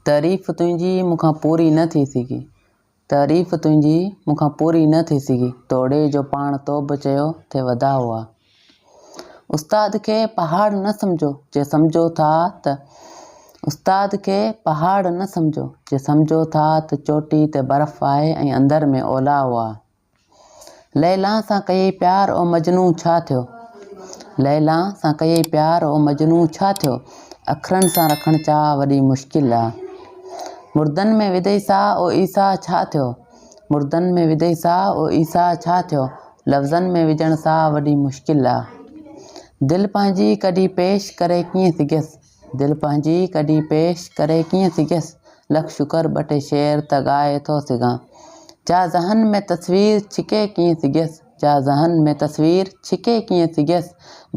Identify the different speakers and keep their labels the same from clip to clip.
Speaker 1: تعريف تنهنجي مون کان پوري نه ٿي سگهي. تعريف تنهنجي مون کان پوري نه ٿي سگهي. توڙي جو پاڻ تو به چيو ٿي وڌاء هئا. استاد کي پهاڙ نه سمجهو جي سمجهو ٿا ته استاد کي پهاڙ نه سمجهو جي سمجهو ٿا ته چوٽي تي برف آهي ۽ اندر ۾ اولا هئا. ليليٰ سان ڪيئي پيار او مجنون ڇا ٿيو؟ ليليٰ سان ڪيئي پيار او مجنون ڇا ٿيو؟ اکرن سان رکڻ چاهه وڏي مشڪل آ. مردن ۾ وڌئي ساهه او عيسيٰ ڇا ٿيو؟ مردن ۾ وڌئي ساهه او عيسيٰ ڇا ٿيو؟ لفظن ۾ وجهڻ ساهه وڏي مشڪل آ. دل پنهنجي ڪڍي پيش ڪري ڪيئن سگهيس؟ دل پنهنجي ڪڍي پيش ڪري ڪيئن سگهيس لک شڪر ٻه ٽي شعر ته ڳائي ٿو سگهان جا ذهن ۾ تصوير ڇڪي ڪيئن سگهيس جا ذهن ۾ تصوير ڇڪي ڪيئن سگهيس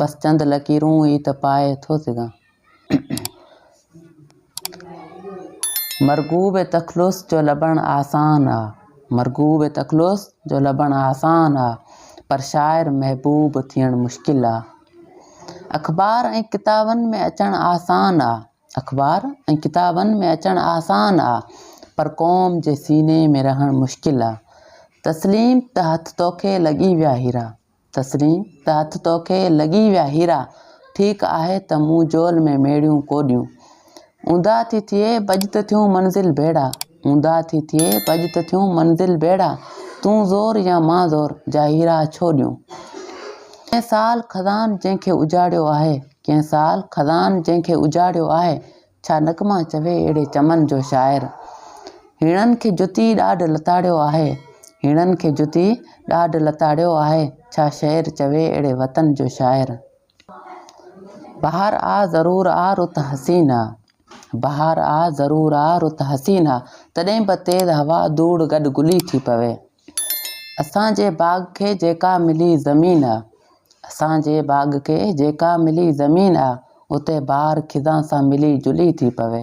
Speaker 1: بس چند لڪيرون ئي ته پائي ٿو سگهان مرغوب تخلص جو لڀڻ آسان آ مرغوب تخلص جو لڀڻ آسان آ پر شاعر محبوب ٿيڻ مشڪل آ اخبار ۽ ڪتابن ۾ اچڻ آسان آ. اخبار ۽ ڪتابن ۾ اچڻ آسان آ پر قوم جي سيني ۾ رهڻ مشڪل آ. تسليم ته هٿ توکي لڳي ويا هيرا. تسليم ته هٿ توکي لڳي ويا هيرا. ٺيڪ آهي ته مون جول ۾ ميڙيون ڪوڏيون. اونڌا ٿي ٿئي بجت ٿيون منزل ڀيڙا. اونداهه ٿي ٿئي پڄ ته ٿيون منزل بيڙا تون زور يا مان زور جا هيرا ڇو ڏيون ڪنهن سال خزان جنهن کي اجاڙيو آهي ڪنهن سال خزان جنهن کي اجاڙيو آهي ڇا نغما چوي اهڙي چمن جو شاعر هيڻن کي جتي ڏاڍ لتاڙيو آهي هيڻن کي جتي ڏاڍ لتاڙيو آهي ڇا شعر چوي اهڙي وطن جو شاعر. بهار آ ضرور آ رت حسين آ. بهار آ ضرور آ رت حسين آ. تڏهن به تيز هوا ڌوڙ گڏ گلي ٿي پوي. اسان جي باغ کي جيڪا ملي زمين آ. اسان جي باغ کي جيڪا ملي زمين آ. اتي بهار خزان سان ملي جلي ٿي پوي.